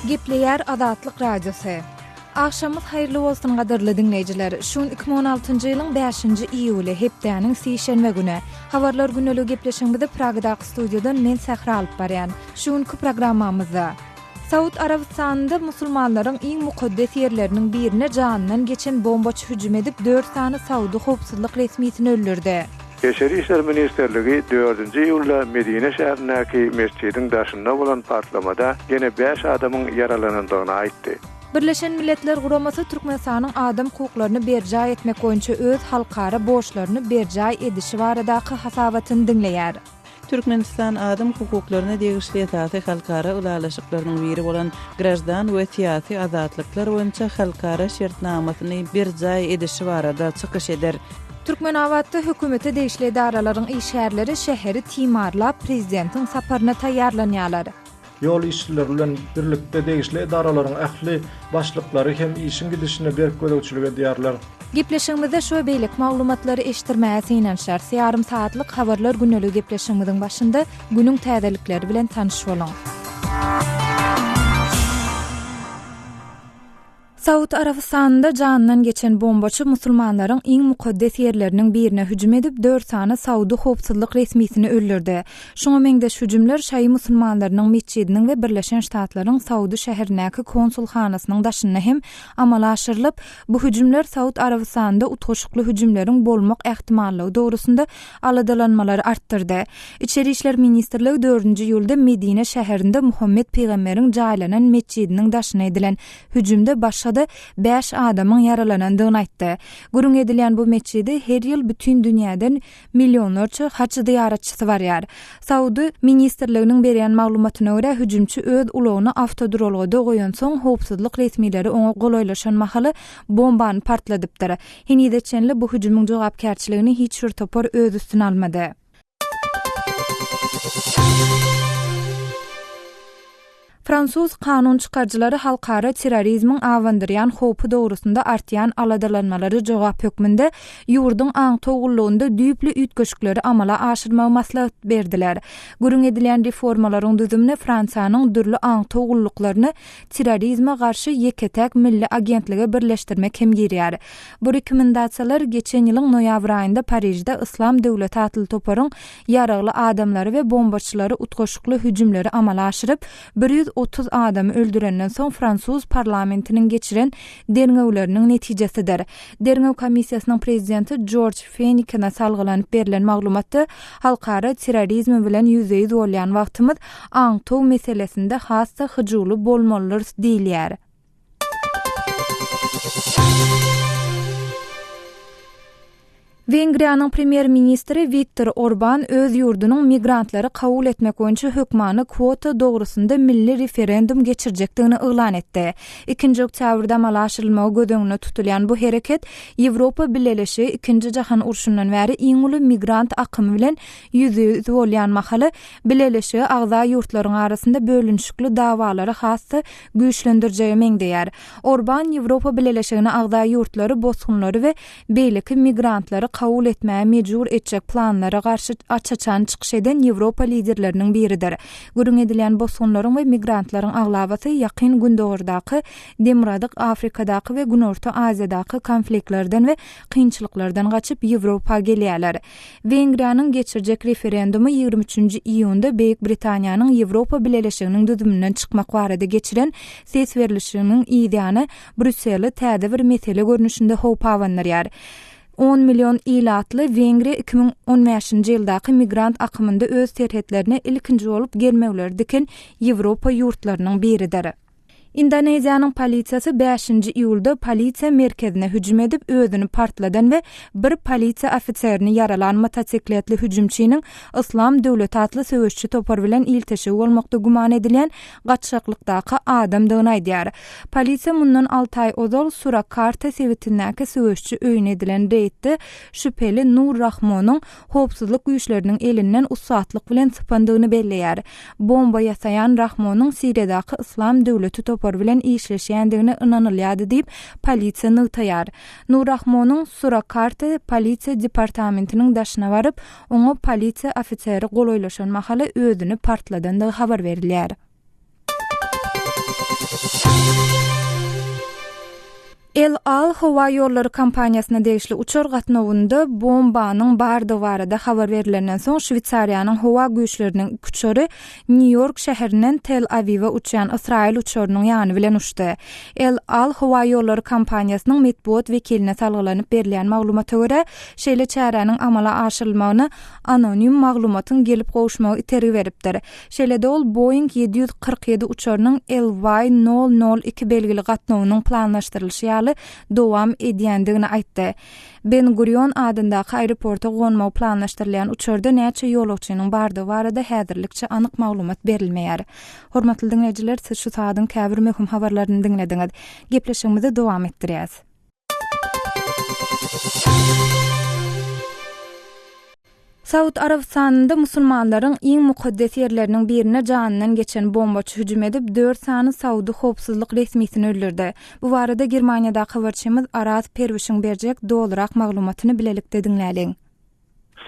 Gepleýär Azatlyk Radiosy. Agşamyz haýyrly bolsun gadyrly diňleýjiler. Şu gün 2016-njy ýylyň 5-nji iýuly, hepdäniň sişenbe güni. Habarlar güneligi gepleşigimizi Pragadaky studiýadan men Sähra alyp barýan. Şu günki programmamyzda. Saud Arabystanynda musulmanlaryň iň mukaddes ýerleriniň birine janyndan geçen bombaçy hüjüm edip, dört sany saudy howpsuzlyk resmisini öldürdi. Eşeri işler ministrligi dördünji iýulda Medine şäherindäki mesjidiň daşynda bolan partlamada ýene bäş adamyň ýaralanandygyny aýtdy. Birleşen Milletler Guramasy Türkmenistanyň adam hukuklaryny berjaý etmek boýunça öz halkara borçlaryny berjaý edişi baradaky hasabatyny diňleýär. Türkmenistan adam hukuklaryna degişli esasy halkara ylalaşyklarynyň biri bolan Graždan we syýasy azatlyklar boýunça halkara şertnamasyny berjaý edişi barada çykyş eder. Türkmenabatda hökümete degişli edaralaryň işgärleri şäheri timarlap, prezidentiň saparyna taýýarlanýarlar. Ýol işçileri bilen birlikde degişli edaralaryň ähli başlyklary hem işiň gidişine berk gözegçilik edýärler. Gepleşigimizde şu we beýleki maglumatlary eşitdirmäge synanyşarys. Ýarym sagatlyk Habarlar güneligi gepleşigimiziň başynda günüň täzelikleri bilen tanyş boluň. Saud Arabystanynda janyndan geçen bombaçy musulmanlaryň iň mukaddes ýerleriniň birine hüjüm edip, dört sany saudy howpsuzlyk resmisini öldürdi. Şuňa meňzeş hüjümler şaýy musulmanlarynyň metjidiniň we Birleşen Ştatlaryň Saudy şäherindäki konsulhanasynyň daşynda hem amala aşyrylyp, bu hüjümler Saud Arabystanynda utgaşykly hüjümleriň bolmak ähtimallygy dogrusynda aladalanmalary artdyrdy. Içeri işler ministrligi dördünji iýulda Medine şäherinde Muhammet pygamberiň jaýlanan metjidiniň daşyna edilen Hüjümde başga-da bäş adamyň ýaralanandygyny aýtdy. Gürrüň edilýän bu metjide her ýyl bütin dünýäden millionlarça haç zyýaratçysy barýar. Saudy ministrliginiň berýän maglumatyna görä, hüjümçi öz ulagyny awtoduralgada goýansoň, howpsuzlyk resmileri oňa golaýlaşan mahaly bombany partladypdyr. Henize çenli bu hüjümiň jogapkärçiligini hiç bir topar öz üstüne almady. Fransuz kanun çykaryjylary halkara terrorizmiň abandyrýan howpy dogrusynda artýan aladalanmalara jogap hökmünde ýurduň aňtaw gullugynda düýpli üýtgeşikleri amala aşyrmagy maslahat berdiler. Gürrüň edilýän reformalaryň düzümine Fransiýanyň dürli aňtaw gulluklaryny terrorizme garşy ýeke-täk milli agentlige birleşdirmek hem girýär. Bu rekomendasiýalar geçen ýylyň noýabr aýynda Parižde Yslam döwleti atly toparyň ýaragly adamlary we bombaçylary utgaşykly hüjümleri amala aşyryp, bir ýüz otuz adamy öldürenden soň fransuz parlamentiniň geçiren derňewleriniň netijesidir. Derňew komissiýasynyň prezidenti Jorj Fenikene salgylanyp berlen maglumatda halkara terrorizmi bilen ýüzbe-ýüz bolýan wagtymyz aňtaw meselesinde has-da hyjuwly bolmalydyrys diýilýär. Wengriýanyň premýer-ministri Wiktor Orban öz ýurdunyň migrantlary kabul etmek boýunça hökmany kwota dogrusynda milli referendum geçirjekdigini yglan etdi. Ikinji oktýabrda amala aşyrylmagy göz öňünde tutulýan bu hereket Ýewropa Bileleşigi Ikinji jahan urşundan bäri iň uly migrant akymy bilen ýüzbe-ýüz bolýan mahaly, Bileleşige agza ýurtlaryň arasynda bölünişikli dawalary has-da güýçlendirjege meňzeýär. Orbán Ýewropa Bileleşigine agza ýurtlary bosgunlary we beýleki migrantlary kabul etmäge mejbur etjek planlara garşy aç-açan çykyş eden Ýewropa liderleriniň biridir. Gürrüň edilýän bosgunlaryň we migrantlaryň aglabasy Ýakyn Gündogardaky, Demirgazyk Afrikadaky we Günorta Aziýadaky konfliktlerden we kynçylyklardan gaçyp Ýewropa gelýärler. Wengriýanyň geçirjek referendumy ýigrimi üçünji iýunda Beýik Britaniýanyň Ýewropa Bileleşiginiň düzüminden çykmak barada geçiren ses berlişiginiň yzýany Brýusseli täze bir mesele görnüşinde howpabandyrýar. On million ilatly Wengriýa iki müň on bäşinji ýyldaky migrant akymynda öz serhetlerine ilkinji bolup gelmewleri diken Ýewropa ýurtlarynyň biridir. Indoneziýanyň polisiýasy bäşinji iýulda polisiýa merkezine hüjüm edip, özüni partladan we bir polisiýa ofiserini ýaralan motosikletli hüjümçiniň Yslam döwleti atly söweşçi topar bilen ilteşigi bolmakda güman edilýän gaçgaklykdaky adamdygyny aýdýar. Polisiýa mundan alty aý ozal Surakarta sebitindäki söweşçi öýüne edilen reýdde şübheli Nur Rahmonyň howpsuzlyk güýçleriniň elinden ussatlyk bilen sypandygyny belleýär. Bomba ýasaýan Rahmonyň Siriýadaky Yslam döwleti topary bilen işleşýändigine ynanylýardy diýip, polisiýa nygtaýar. Nur Rahmonyň Surakarta polisiýa departamentiniň daşyna baryp, oňa polisiýa ofiseri golaýlaşan mahaly özüni partladandygy habar berilýär. El Al howa ýollary kompaniýasyna degişli uçar gatnawynda bombanyň bardygy barada habar berilenden soň, Şweýsariýanyň howa güýçleriniň iki uçary Nýu-Ýork şäherinden Tel-Awiwe uçýan ysraýyl uçarynyň ýany bilen uçdy. El Al howa ýollary kompaniýasynyň metbugat wekiline salgylanyp berilýän maglumata görä, şeýle çäräniň amala aşyrylmagyna anonim maglumatyň gelip gowuşmagy itergi beripdir. Şeýle-de ol Boeing ýedi ýüz kyrk ýedi uçarynyň LY nol nol iki belgili gatnawynyň planlaşdyrylyşy ýaly dowam edýändigini aýtdy. Ben Gurion adyndaky aeroporta gonmagy planlaşdyrylýan uçarda näçe ýolagçynyň bardygy barada häzirlikçe anyk maglumat berilmeýär. Hormatly diňleýjiler, siz şu sagadyň käbir möhüm habarlaryny diňlediňiz. Gepleşigimizi dowam etdirýäs. Saud Arabystanynda musulmanlaryň iň mukaddes ýerleriniň birine janyndan geçen bombaçy hüjüm edip, dört sany saudy howpsuzlyk resmisini öldürdi. Bu barada Germaniýadaky habarçymyz Araz Perwişiň berjek dolurak maglumatyny bilelikde diňläliň.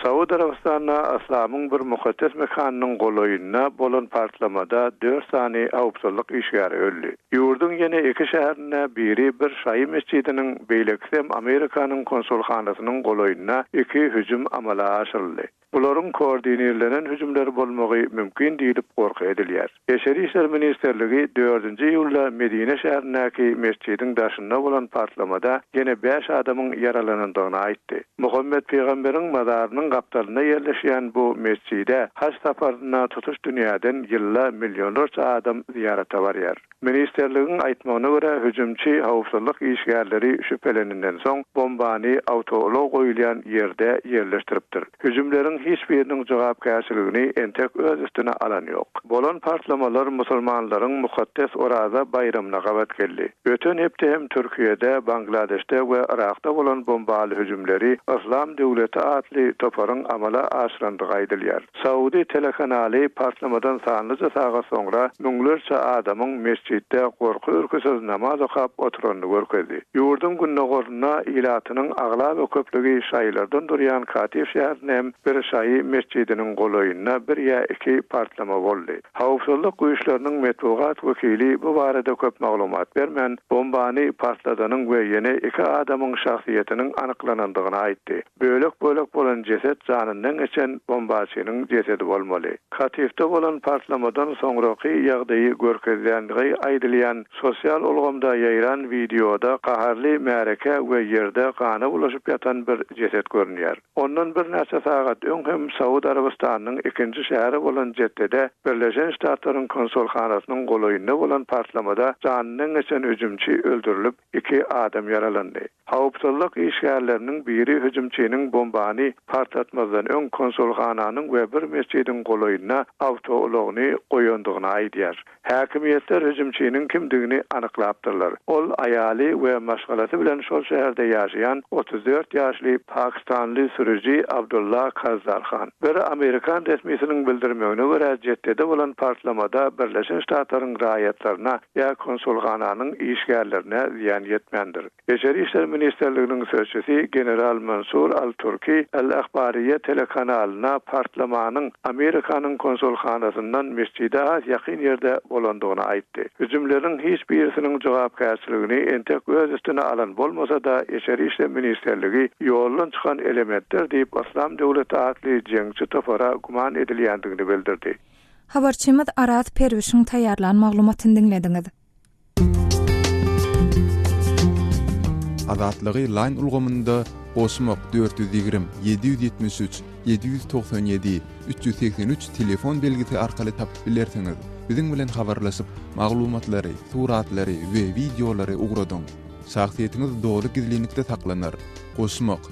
Saud Arabystanda Aslamyň bir mukaddes mekanynyň golaýynda bolan partlamada dört sany howpsuzlyk işgäri öldi. Ýurduň ýene iki şäherinde, biri bir şaýy mesjidiniň, beýlekisem Amerikanyň konsulhanasynyň golaýynda iki hüjüm amala aşyryldy. Bularyň koordinirlenen hüjümler bolmagy mümkin diýlip gorky edilýär. Daşary işler ministrligi dördünji iýulda Medine şäherindäki metjidiň daşynda bolan partlamada ýene bäş adamyň ýaralanandygyny aýtdy. Muhammet pygamberiň mazarynyň gapdalynda ýerleşýän bu metjide haj saparynda tutuş dünýäden ýylda millionlarça adam zyýarata barýar. Ministrligiň aýtmagyna görä, hüjümçi howpsuzlyk işgärleri şübheleninden soň, bombany awtoulag goýulýan ýerde ýerleşdiripdir. Hüjümleriň hiç biriniň jogapkärçiligini entek öz üstüne alan ýok. Bolan partlamalar musulmanlaryň mukaddes Oraza baýramyna gabat geldi. Öten hepde hem Türkiýede, Bangladeşde we Yrakda bolan bombaly hüjümleri Yslam döwleti atly toparyň amala aşyrandygy aýdylýar. Saudi telekanaly partlamadan sanlyja sagat soňra müňlerçe adamyň mesjitde gorky-ürküsiz namaz okap oturanyny görkezdi. Ýurduň gündogarynda ilatynyň aglaba köplügi şaýylardan durýan Katif şäherinde hem bir şaýy metjidiniň golaýynda bir ýa iki partlama boldy. Howpsuzlyk güýçleriniň metbugat wekili bu barada köp maglumat bermän, bombany partladanyň we ýene iki adamyň şahsyýetiniň anyklanandygyny aýtdy. Bölek-bölek bolan jeset janyndan geçen bombaçynyň jesedi bolmaly. Katyfda bolan partlamadan soňraky ýagdaýy görkezýändigi aýdylýan sosial ulgamda ýaýran wideoda gaharly märekä we ýerde gana bulaşyp ýatan bir jeset görünýär. Ondan birnäçe sagat öň hem Saud Arabystanynyň ikinji şäheri bolan Jeddede Birleşen Ştatlaryň konsulhanasynyň golaýynda bolan partlamada janyndan geçen hüjümçi öldürilip, iki adam ýaralandy. Howpsuzlyk işgärleriniň biri hüjümçiniň bombany partlatmazdan öň konsulhananyň we bir mesjidiň golaýynda awtoulagyny goýandygyny aýdýar. Häkimiýetler hüjümçiniň kimdigini anyklapdyrlar. Ol aýaly we maşgalasy bilen şol şäherde ýaşaýan otuz dört ýaşly pakistanly sürüji Abdulla Kazzarhan. Bir amerikan resmisiniň bildirmegine görä, Jeddede bolan partlamada Birleşen Ştatlaryň raýatlaryna ýa konsulhananyň işgärlerine zyýan ýetmändir. Içeri işler ministrliginiň sözçüsi general Mansur al-Turki Al Ahbariýa telekanalyna partlamanyň Amerikanyň konsulhanasyndan mesjide has ýakyn ýerde bolandygyny aýtdy. Hüjümleriň hiç birisiniň jogapkärçiligini entek öz üstüne alan bolmasa-da, içeri işle ministrligi ýoldan çykan elementler diýip Yslam döwleti atly jeňçi topara güman edilýändigini bildirdi. Habarçymyz Araz Perwişiň taýýarlan maglumatyny diňlediňiz. Azatlygy Line ulgamynda goşmak dört ýüz ýigrimi, ýedi ýüz ýetmiş üç, ýedi ýüz togsan ýedi, üç ýüz segsen üç telefon belgisi arkaly tapyp bilersiňiz. Biziň bilen habarlaşyp, maglumatlary, suratlary we wideolary ugradyň. Şahsyýetiňiz doly gizlinlikde saklanar. Goşmak.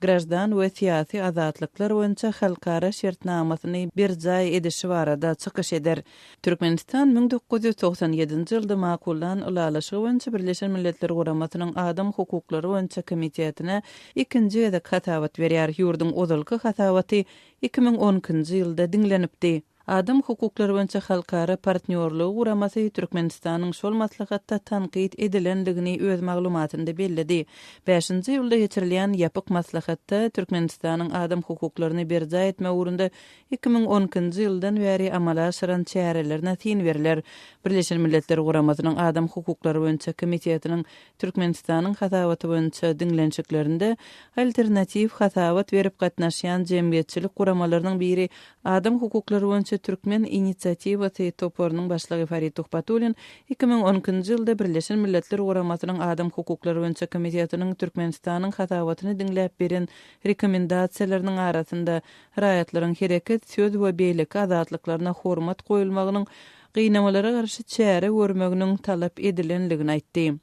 graždan we syýasy azatlyklar boýunça halkara şertnamasyny berjaý edişi barada çykyş eder. Türkmenistan müň dokuz ýüz togsan ýedinji ýylda makullan Ylalaşygy boýunça Birleşen Milletler Guramasynyň Adam hukuklary boýunça komitetine ikinji gezek hasabat berýär, ýurduň ozalky hasabaty iki müň on ikinji ýylda diňlenipdi. Adam hukuklary boýunça halkara partnýorlygy guramasy Türkmenistanyň şol maslahatda tankyt edilendigini öz maglumatynda belledi. Bäşinji iýulda geçirilýän ýapyk maslahatda Türkmenistanyň adam hukuklaryny berjaý etmek ugrunda iki müň on ikinji ýyldan bäri amala aşyran çärelerine syn berler. Birleşen Milletler Guramasynyň Adam hukuklary boýunça komitetiniň Türkmenistanyň hasabaty boýunça diňlenişiklerinde alternatiw hasabat berip gatnaşýan jemgyýetçilik guramalarynyň biri Adam hukuklary boýunça türkmen inisiatiwasy toparynyň başlygy Farid Tuhbatulin iki müň on ikinji ýylda Birleşen Milletler Guramasynyň Adam hukuklary boýunça komitetiniň Türkmenistanyň hasabatyny diňläp beren rekomendasiýalarynyň arasynda raýatlaryň hereket, söz we beýleki azatlyklaryna hormat goýulmagynyň gynamalara garşy çäre görmeginiň talap edilendigini aýtdy.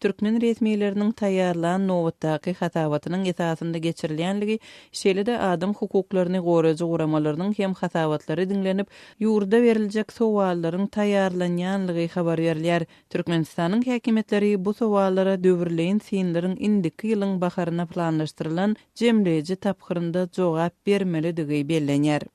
Türkmen resmileriniň taýýarlan nobatdaky hasabatynyň esasynda geçirilýänligi, şeýle-de adam hukuklaryny goraýjy guramalarynyň hem hasabatlary diňlenip, ýurda beriljek sowallaryň taýýarlanýanlygy habar berilýär. Türkmenistanyň häkimiýetleri bu sowallara döwürleýin synlaryň indiki ýylyň baharyna planlaşdyrylan jemleýji tapgyrynda jogap bermelidigi bellenýär.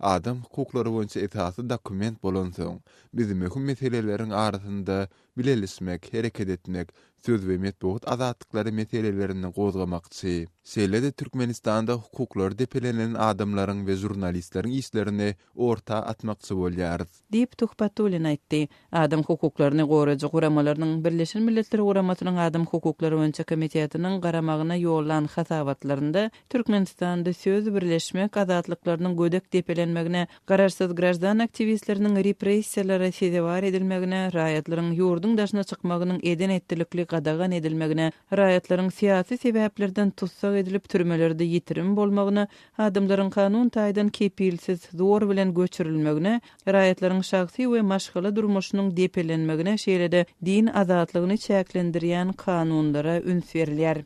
Adam hukuklary boýunça esasy dokument bolansoň, biz möhüm meseleleriň arasynda bileleşmek, hereket etmek, söz we metbugat azatlyklary meselelerini gozgamakçy. Şeýle-de Türkmenistanda hukuklary depelenen adamlaryň we žurnalistleriň işlerini orta atmakçy bolýarys. diýip, Tuhbatullin aýtdy. Adam hukuklaryny goraýjy guramalarynyň Birleşen Milletler Guramasynyň Adam hukuklary boýunça komitetiniň garamagyna ýollan hasabatlarynda Türkmenistanda söz, birleşmek azatlyklarynyň gödek depelenmegine, garaşsyz graždan aktiwistleriniň repressiýalara sezewar edilmegine, raýatlaryň ýurduň daşyna çykmagynyň eden-etdilikli gadagan edilmegine Raýatlaryň syýasy sebäplerden tussag edilip, türmelerde ýitirim bolmagyna, adamlaryň kanun taýdan kepilsiz, zor bilen göçürilmegine, raýatlaryň şahsy we maşgala durmuşynyň depelenmegine, şeýle-de din azatlygyny çäklendirýän kanunlara üns berilýär.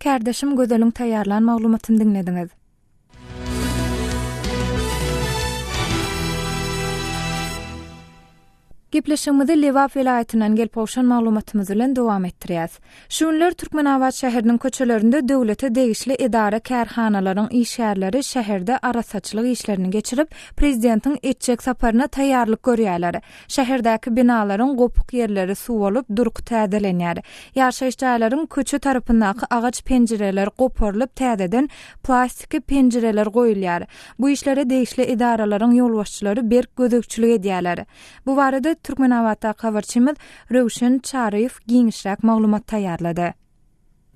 Kärdeşim Gözeliň taýýarlan maglumatyny diňlediňiz. Gepleşigimizi Lebap welaýatyndan gelip gowşan maglumatymyz bilen dowam etdirýäs. Şu günler Türkmenabat şäheriniň köçelerinde döwlete degişli edara-kärhanalaryň işgärleri şäherde arassaçylyk işlerini geçirip, prezidentiň etjek saparyna taýýarlyk görýärler. Şäherdäki binalaryň gopuk ýerleri suwalyp, durky täzelenýär. Ýaşaýyş jaýlaryň köçe tarapyndaky agaç penjireler goparylyp, täzeden plastiki penjireler goýulýar. Bu işlere degişli edaralaryň ýolbaşçylary berk gözegçilik edýärler. Bu barada Türkmenabatdaky habarçymyz Röwşen Çaryýew giňişräk maglumat taýýarlady.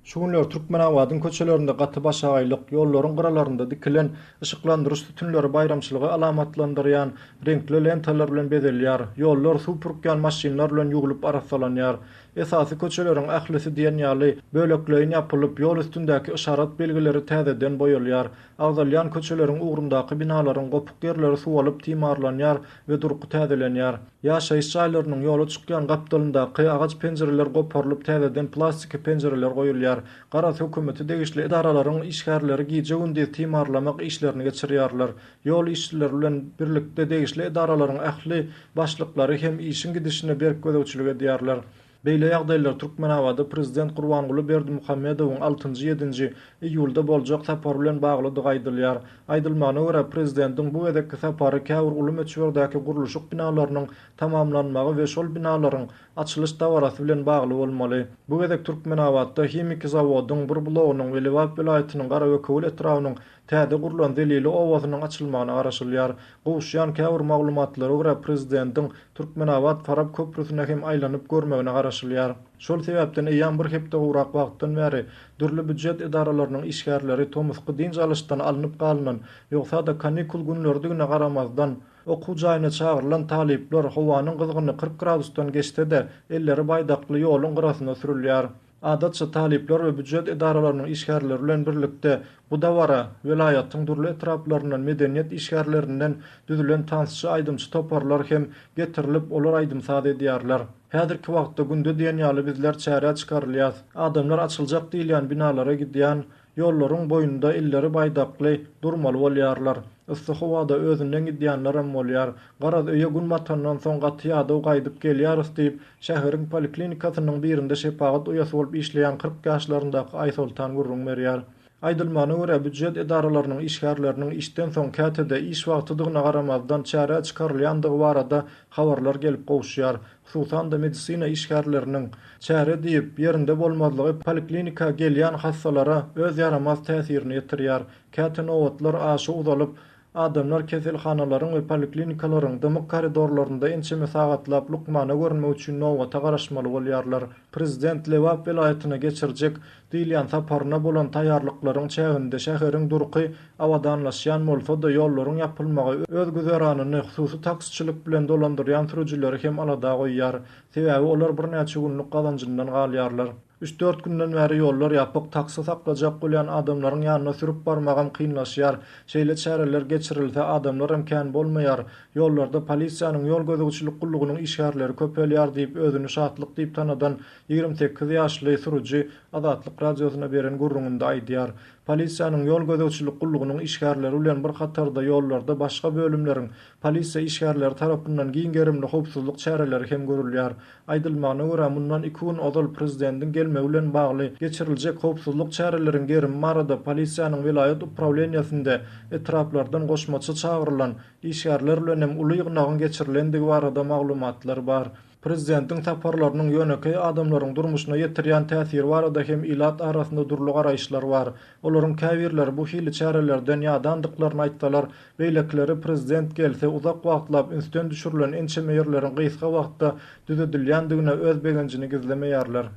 Şu günler Türkmenabadyň köçelerinde gaty başagaýlyk, ýollaryň gyralarynda dikilen yşyklandyryş sütünleri baýramçylygy alamatlandyrýan reňkli lentalar bilen bezelýär, ýollar suw pürkýän maşynlar bilen ýuwlup arassalanýar. Esasy köçeleriň ählisi diýen ýaly, bölekleýin ýapylyp, ýol üstündäki yşarat belgileri täzeden boýalýar. Agzalýan köçeleriň ugrundaky binalaryň gopuk ýerleri suwalyp timarlanýar we durky täzelenýär. Ýaşaýyş jaýlarynyň ýola çykýan gapdalyndaky agaç penjireler goparylyp täzeden plastiki penjireler goýulýar. Garaz hökümeti degişli edaralaryň işgärleri gije-gündiz timarlamak işlerini geçirýärler. Ýol işçileri bilen birlikde degişli edaralaryň ähli başlyklary hem işiň gidişine berk gözegçilik edýärler. Beýle ýagdaýlar Türkmenabada prezident Gurbanguly Berdimuhamedowyň altynjy, ýedinji iýulda boljak sapary bilen baglydygy aýdylýar. Aýdylmagyna görä, prezidentiň bu gezekki sapary käbir uly möçberdäki gurluşyk binalarynyň tamamlanmagy we şol binalaryň açylyş dabarasy bilen bagly bolmaly. Bu gezek Türkmenabatda himiki zawodyň bir blogynyň we Lebap welaýatynyň Garabökewül etrabynyň Täze gurlan Zelili obasynyň açylmagyna garaşylýar. Gowuşýan käbir maglumatlara görä, prezidentiň Türkmenabat, Farap köprüsine hem aýlanyp görmegine garaşylýar. Şol sebäpden eýýäm bir hepde gowrak wagtdan bäri dürli býujet edaralarynyň işgärleri tomusky dynç alyşdan alnyp galynan, ýogsa-da kanikul günleridigine garamazdan, okuw jaýyna çagyrylan talyplar, howanyň gyzgyny kyrk gradusdan geçse-de, elleri baýdakly ýoluň gyrasynda sürülýär. Adatça, talyplar we býujet edaralarynyň işgärleri bilen birlikde bu dabara welaýatyň dürli etraplaryndan medeniýet işgärlerinden düzülen tansçy-aýdymçy toparlar hem getirilip, olar aýdym-saz edýärler. Häzirki wagtda günde diýen ýaly bizler çärä çykarylýas. Adamlar açyljak diýilýän binalara gidýän Ýollaryň boýunda elleri baýdakly durmaly bolýarlar. Yssy howada özünden gidýänlerem bolýar. Garaz, öýe gün batandan soň gaty ýadaw gaýdyp gelýäris diýip, şäheriň poliklinikasynyň birinde şepagat uýasy bolup işleýän kyrk ýaşlaryndaky Aýsoltan gürrüň berýär. Aýdylmagyna görä, býujet edaralarynyň işgärleriniň işden soň käte-de iş wagtydygyna garamazdan çärä çykarylýandygy barada habarlar gelip gowuşýar. hususan-da medisina işgärleriniň çäre diýip, ýerinde bolmazlygy poliklinika gelýän hassalara öz ýaramaz täsirini ýetirýär. Käte nobatlar aşa uzalyp, adamlar keselhanalaryň we poliklinikalaryň dymyk koridorlarynda ençeme sagatlap lukmana görünmek üçin nobata garaşmaly bolýarlar. Prezident Lebap welaýatyna geçirjek Diýilýän saparyna bolan taýýarlyklaryň çäginde şäheriň durky abadanlaşýan bolsa-da, ýollaryň ýapylmagy öz güzeranyny hususy taksiçilik bilen dolandyrýan sürüjileri hem alada goýýar. Sebäbi olar birnäçe günlük gazanjyndan galýarlar. Üç-dört günden bäri ýollar ýapyk, taksi saklajak bolýan adamlaryň ýanyna sürüp barmagam kynlaşýar. Şeýle çäreler geçirilse, adamlaram kän bolmaýar. Ýollarda polisiýanyň, ýol gözegçilik gullugynyň işgärleri köpelýär diýip, özüni şatlyk diýip tanadan Ýigrimi sekiz ýaşly sürüji Azatlyk Radiosyna beren gürrüňinde aýdýar. Polisiýanyň ýol gözegçilik gullugynyň işgärleri bilen bir hatarda ýollarda başga bölümleriň polisiýa işgärleri tarapyndan giň gerimli howpsuzlyk çäreleri hem görülýär. Aýdylmagyna görä, mundan iki gün ozal prezidentiň gelmegi bilen bagly geçiriljek howpsuzlyk çäreleriň gerimi barada polisiýanyň welaýat uprawleniýesinde etraplardan goşmaça çagyrylan işgärler bilen hem uly ýygnagyň geçirilendigi barada maglumatlar bar. Prezidentiň saparlarynyň ýönekeý adamlaryň durmuşyna ýetirýän täsiri barada hem ilat arasynda dürli garaýyşlar bar. Olaryň käbirleri bu hili çärelerden ýadandyklaryny aýtsalar, beýlekileri prezident gelse uzak wagtlap ünsden düşürilen ençeme ýerleriň gysga wagtda düzedilýändigine öz begenjini gizlemeýärler.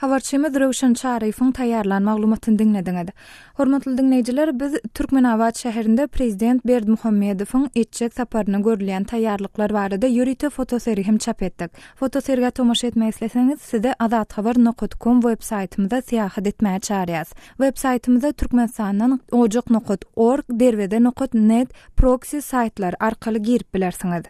Habarçymyz Röwşen Çaryýewiň taýýarlan maglumatyny diňlediňiz. Hormatly diňleýjiler, biz Türkmenabat şäherinde prezident Berdimuhamedowyň etjek saparyna görülýän taýýarlyklar barada ýörite fotosergi hem çap etdik. Fotosergä tomaşa etmek isleseňiz, sizi Azathabar nokat kom web saýtymyza syýahat etmäge çagyrýarys. Web saýtymyza Türkmenistandan Ojak nokat org, Derweze nokat net, Proxy saýtlary arkaly girip bilersiňiz.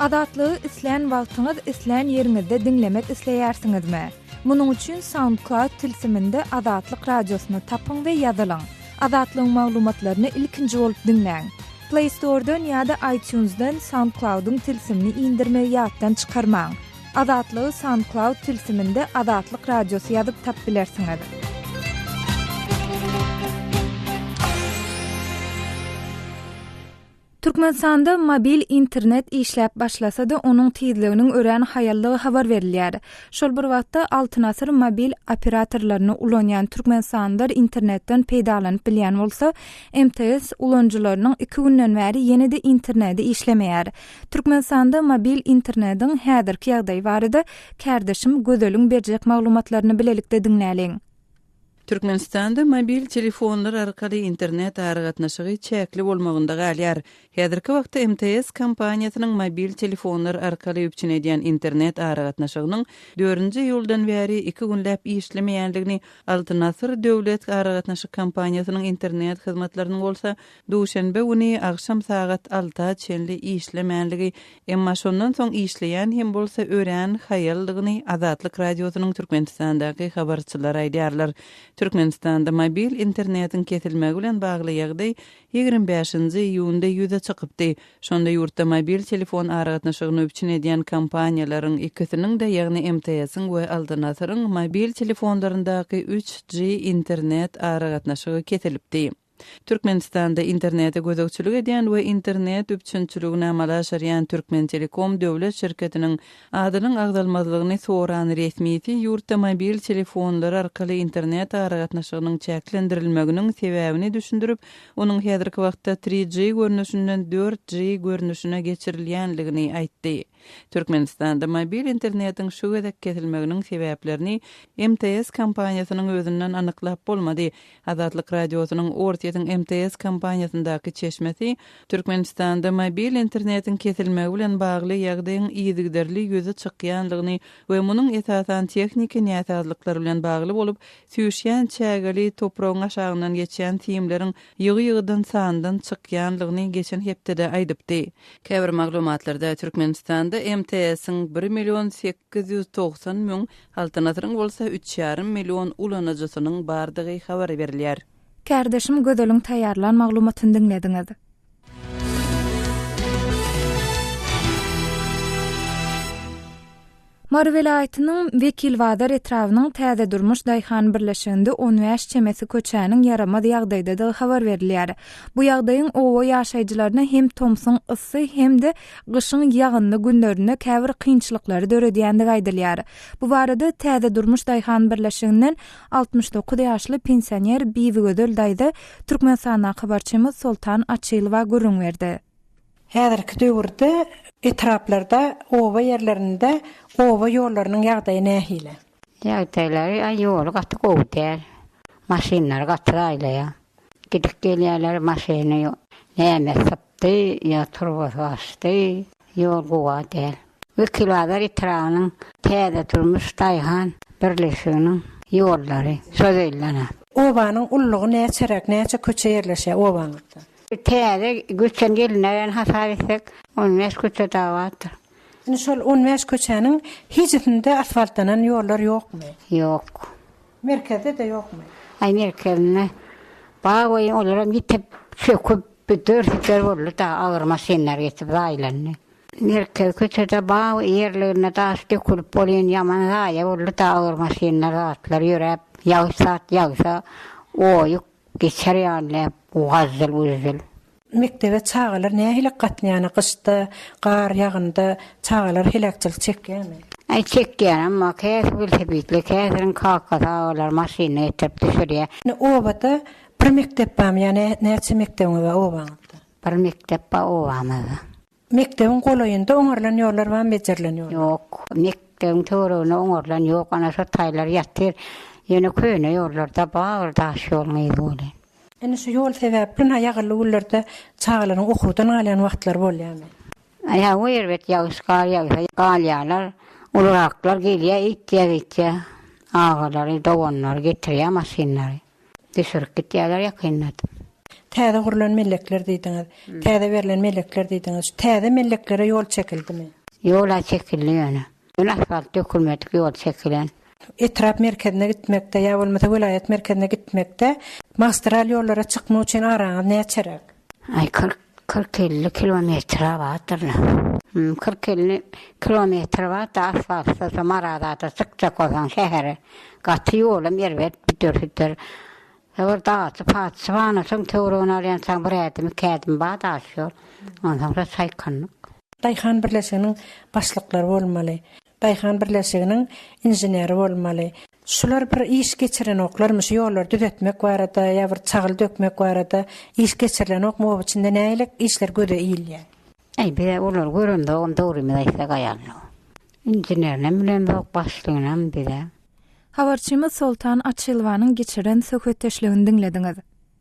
Azatlygy islän wagtyňyz islän ýeriňizde diňlemek isleýärsiňizmi? Munuň üçin SoundCloud tilsiminde Azatlyk Radiosyny tapyň we ýazylyň. Azatlygyň maglumatlaryny ilkinji bolup diňläň! Play Store-dan ýa-da iTunes-dan SoundCloud-yň tilsimini indirmegi ýatdan çykarmaň. Azatlygy SoundCloud tilsiminde Azatlyk Radiosy ýazyp tap bilersiňiz. Türkmenistanda mobil internet işläp başlasa-da, onuň tizliginiň örän haýallygy habar berilýär. Şol bir wagtda Altyn asyr mobil operatorlaryny ulanýan türkmenistanlylar internetden peýdalanyp bilýän bolsa, MTS ulanyjylarynyň iki günden bäri ýene-de interneti işlemeýär. Türkmenistanda mobil internediň häzirki ýagdaýy barada kärdeşim Gözeliň berjek maglumatlaryny bilelikde diňläliň. Türkmenistanda mobil telefonlar arkaly internet aragatnaşygy çäkli bolmagynda galýar. Häzirki wagtda MTS kompaniýasynyň mobil telefonlar arkaly üpjün edýän internet aragatnaşygynyň dördünji iýuldan bäri iki günläp işlemeýändigini, Altyn Asyr döwlet aragatnaşyk kompaniýasynyň internet hyzmatlarynyň bolsa Duşenbe güni agşam sagat alta çenli işlemänligi, emma şondan soň işleýän hem bolsa örän haýaldygyny Azatlyk Radiosynyň Türkmenistandaky habarçylary aýdýarlar. Türkmenistanda mobil internetiň kesilmegi bilen bagly ýagdaý ýigrimi bäşinji iýunda ýüze çykypdy. Şonda ýurtda mobil telefon aragatnaşygyny üpjün edýän kompaniýalaryň ikisiniň-de, ýagny MTS-iň we Altanasyryň mobil telefonlaryndaky üç G internet aragatnaşygy kesilipdi. Türkmenistanda internete gözegçilik edýän we internet üpjünçiligini amala aşyrýan Türkmentelekom döwlet şirketiniň adynyň agzalmazlygyny soran resmisi ýurtda mobil telefonlar arkaly internet aragatnaşygynyň çäklendirilmeginiň sebäbini düşündirip, onuň häzirki wagtda tri G görnüşinden dört G görnüşine geçirilýändigini aýtdy. Türkmenistanda mobil internetiň şu gezek kesilmeginiň sebäplerini MTS kompaniýasynyň özünden anyklap bolmady. Azatlyk Radiosynyň Orsýetiň MTS kompaniýasyndaky çeşmesi Türkmenistanda mobil internetiň kesilmegi bilen bagly ýagdaýyň yzygiderli ýüze çykýandygyny we munuň esasan tehniki näsazlyklar bilen bagly bolup, süýşýän çägeli topragyň aşagyndan geçýän simleriň ýygy-ýygydan sandan çykýanlygyny geçen hepdede aýdypdy. Käbir maglumatlarda Türkmenistanda MTS-iň bir million sekiz ýüz togsan müň, Altyn Asyryň bolsa üç ýarym million ulanyjysynyň bardygy habar berilýär. Kärdeşim Gözeliň taýýarlan maglumatyny diňlediňiz. Mary welaýatynyň Wekilbazar etrabynyň Täze Durmuş daýhan birleşiginde on bäş çemesi köçäniň ýaramaz ýagdaýdadygy habar berilýär. Bu ýagdaýyň oba ýaşaýjylaryna hem tomsuň yssy hem-de gyşyň ýagynly günlerinde käbir kynçylyklary döredýändigi aýdylýar. Bu barada Täze Durmuş daýhan birleşiginden altmyş dokuz ýaşly pensioner Bibigözel daýza Türkmenistandan habarçymyz Soltan Açylowa gürrüň berdi. Häzirki döwürde etraplarda, oba ýerlerinde oba ýollarynyň ýagdaýy nähili? Ýagdaýlary aý ýoly gaty gowy däl. Maşynlar gaty raýlaýar. Gidip gelýärler maşyny näme sypdy ýa turbasy gaçdy, ýol gowa däl. Wekilbazar etrabynyň Täze durmuş daýhan birleşiginiň ýollary şo zeýlenap. Obanyň ullugy näçeräk, näçe köçe ýerleşýär obaňyzda? Täze göçen gelin aýany hasap etsek, on bäş köçe dagy bardyr. Indi şol on bäş köçäniň hijisinde asfaltlanan ýollar ýokmy? Ýok. Merkezde-de ýokmy? Aý merkezinde bar welin olaram ýitip, çöküp, bir dör-süper boldy dagy, agyr maşynlar geçip zaýlandy. Merkez köçede bar ýerlerine daş dökülip welin ýaman zaýa boldy dagy, agyr maşynlar, zatlar ýöräp, ýagyş zat ýagsa, oýuk, Geçer ýaly näp bu gazzyl-güzzyl. Mekdebe çagalar nähili gatnaýany gyşda, gar ýagynda çagalar heläkçilik çekýämi? Äý çekýän emma käsi welosipedli käsiniň kakasy agalar maşynda getirip düşürýä. Indi obada bir mekdep barmy ýa näçe mekdebiňiz bar obaňyzda? Bir mekdep bar obamyzda. Mekdebiň golaýynda oňarylan ýollar bamy bejerilen ýollar? Ýok. Mekdebiň töweregine oňarylan ýok. Ana şo taýlar ýatyr. Ýöne köne ýollarda bar bir daş ýoluň yzy bolan. Indi şu ýol sebäpli na ýagyrly günlerde çagalaryň okuwdan galýan wagtlary bolýamy? Ýa we erbet ýagyş gar ýagsa galýalar. Uluraklar gelýä, ýitýä-gyýtýä. Agalary, doganlary getirýä maşynlary. Düşürip gitýärler ýakynda atyp. Täze gurlan mellekler diýdiňiz. Täze berlen mellekler diýdiňiz. Şu täze melleklere ýol çekildimi? Ýol-a çekildi ýöne. Ýöne asfalt dökülmedik ýol çekilen. Etrap merkezine gitmekde ýa bolmasa welaýat merkezine gitmekde magistral ýollara çykmak üçin araňyz näçeräk? Aý kyrk Kyrk-elli kilometre bardyr-la. Hum, kyrk-elli kilometre bar-da, asfaltsyz Marazada çykjak bolsaň şähere, gaty ýolam erbet, büdür-südür. Bir daty patyşy barna soň töweregine alýansaň bir ädim, iki ädim bar daş ýol. Onsoň-da çaýkanlyk. Daýhan birleşiginiň başlyklary bolmaly. Daýhan birleşiginiň inženeri bolmaly. Şular bir iş geçirenoklarmy şu ýollary düzetmek barada ýa bir çagyl dökmek barada iş geçirilenokmy oba içinde nähilek işler göze ilýär. Äý biz olary göremzogam dogrymyzy aýtsak aýalynok. Inženerinem bilemzok başlygynyam bizem. Habarçymyz Soltan Açylwanyň geçiren söhbetdeşligini diňlediňiz.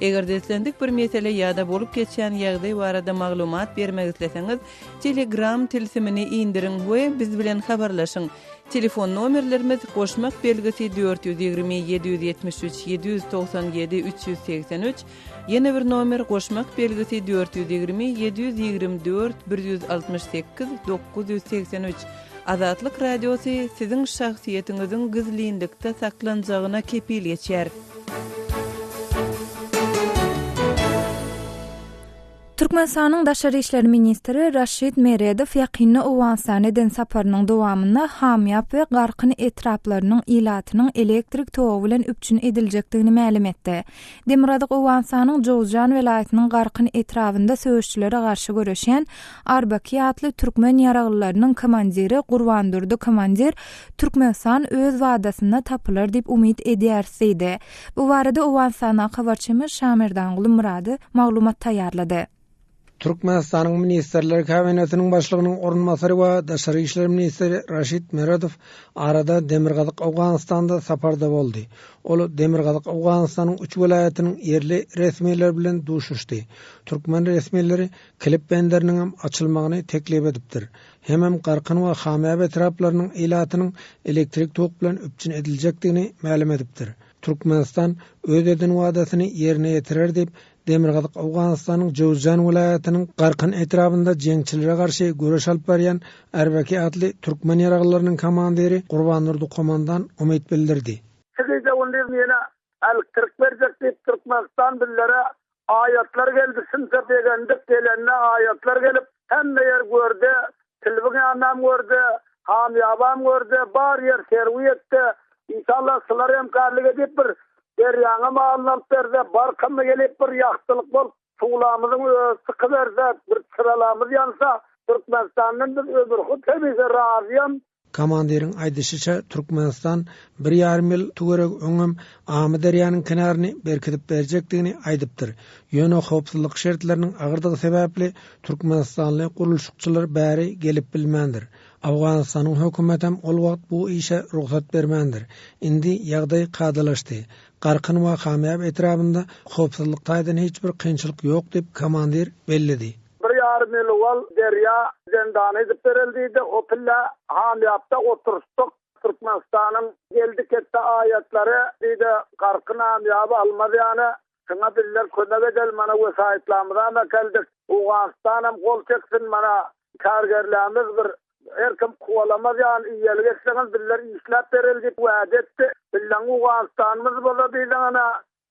Eger-de islendik bir mesele ýa-da bolup geçýän ýagdaý barada maglumat bermek isleseňiz, Telegram tilsimini indiriň we biz bilen habarlaşyň. Telefon nomerlerimiz, goşmak belgisi, dört ýüz ýigrimi, ýedi ýüz ýetmiş üç, ýedi ýüz togsan ýedi, üç ýüz segsen üç, ýene bir nomer, goşmak belgisi, dört ýüz ýigrimi, ýedi ýüz ýigrimi dört, bir ýüz altmyş sekiz, dokuz ýüz segsen üç. Azatlyk Radiosy siziň şahsyýetiňiziň gizlinlikde saklanjagyna kepil geçýär. Türkmenistanyň daşary işler ministri Raşid Meredow ýakynda Owganystana eden saparynyň dowamynda Hamýap we Garkyn etraplarynyň ilatynyň elektrik togy bilen üpjün ediljekdigini mälim etdi. Demirgazyk Owganystanyň Jowzjan welaýatynyň Garkyn etrabynda söweşçilere garşy göreşýän Arbaki atly türkmen ýaraglylarynyň komandiri Gurbandurdy komandir Türkmenistan öz wadasynda tapylar diýip umyt edýäris diýdi. Bu barada Owganystandaky habarçymyz Şamerdanguly Myrady maglumat taýýarlady. Türkmenistanyň Ministrler Kabinetiniň Başlygynyň orunbasary we daşary işler ministri Raşid Meredow arada Demirgazyk Owganystanda saparda boldy. Ol Demirgazyk Owganystanyň üç welaýatynyň ýerli resmileri bilen duşuşdy. Türkmen resmileri Kilip benderiniň hem açylmagyny teklip edipdir. Hemem Garkyn we Hamyýap etraplarynyň ilatynyň elektrik tok bilen üpjün ediljekdigini mälim edipdir. Türkmenistan öz eden wadasyny ýerine ýetirer diýip, Demirgazyk Owganystanyň Jowzjan welaýatynyň Garkan etrabynda jeňçilere garşy göreş alyp barýan Erbaki atly türkmen ýaraglylarynyň komandiri Gurbandurdy Komandan umyt bildirdi. Çykyşa gündiz ýene älikdirik berjek diýip Türkmenistan bizlere aýatlar geldi, sümse begendik gelende aýatlar gelip hemme ýer görde Tilbiňämem gör-de, hamyýabam gör-de, bar ýer serwi et-de, inşallah şular hem garlyk edip bir derýaňa malyny alyp berse, barkymyz gelip bir ýagtylyk bolup, suwlamyzyň özi çykyberse, bir çyralamyz ýansa, Türkmenistandan biz ömürhut hemişe razyam, Komandiriň aýdyşyça, Türkmenistan bir ýarym ýyl töweregi öňem Amyderýanyň kenaryny berkidip berjekdigini aýdypdyr. Ýöne howpsuzlyk şertleriniň agyrdygy sebäpli türkmenistanly gurluşykçylar bäri gelip bilmändir. Awganystanyň hökümetem ol wagt bu işe rugsat bermändir. Indi ýagdaý kadalaşdy. Garkyn we Hamýab etrabynda howpsuzlyk taýdan hiç bir kynçylyk ýok diýip, komandir belledi. Bir ýarym ýyl owal Derýa zendany edip berildiydi. O pille Hamýabda oturyşdyk. Türkmenistanyň geldi ketdi aýatlary diýdi, Garkyn Hamýaby almaz ýaly. Şuňa bizler kömek edeli, mana wesaýtlamyzam äkeldik. Owganystanam gol çeksin, mana kärgerlämiz bir Her kim kowalamaz ýaly iýelik etseňiz bizler işläp bereli diýip wäde etdi. Billaň Owganystanymyz bolsa diýseňňe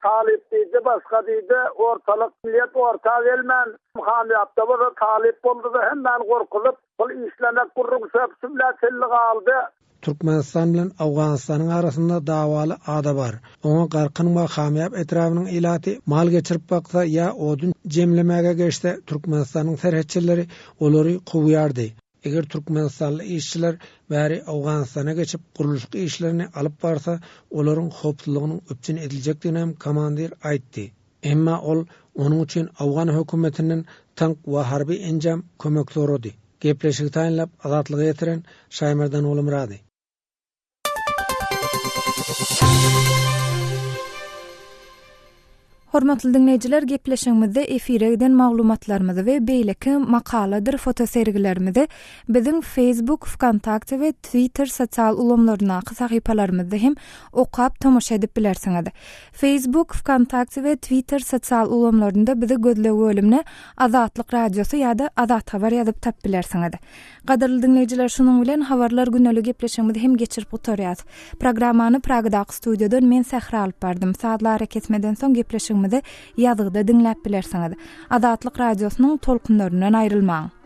Talyp diýdi, başga diýdi. Ortalyk millet orta gelmän, hamýapda bolsa Talyp boldy-da hemmäni gorkuzyp, pul işlemek gurruň söp-sübla çenli galdy. Türkmenistan bilen Owganystanyň arasynda dawaly ada bar. Oňa Garkyn we Hamýap etrabynyň ilaty mal geçirip baksa ýa odun jemlemäge geçse, Türkmenistanyň serhetçileri olary kowýardy. Eger türkmenistanly işçiler bäri Owganystana geçip gurluşyk işlerini alyp barsa, olaryň howpsuzlygynyň üpjün ediljekdigini hem komandir aýtdy. Emma ol onuň üçin Owgan hökümetinden tank we harby enjam kömek sorady. Gepleşigi taýynlap Azatlyga getiren Şaýmardan Gulumyrady. Hormatly diňleýjiler, gepleşigimizde efire giden maglumatlarymyzy we beýleki makaladyr fotosergilerimizi biziň Facebook, Wkontakte we Twitter sosial ulgamlaryndaky sahypalarymyzda hem okap tomaşa edip bilersiňiz. Facebook, Vkontakte we Twitter sosial ulgamlarynda bizi gözleg bölümine Azatlyk Radiosy ýa-da Azat Habar ýazyp tap bilersiňiz. Gadyrly diňleýjiler, şunuň bilen habarlar güneli gepleşigimizi hem geçirip gutarýas. Programmany Pragadaky studiýadan men Sähra alyp bardym. Sazly arakesmeden soň gepleşigimizi ýazgyda diňläp bilersiňiz. Azatlyk Radiosynyň tolkunlaryndan aýrylmaň.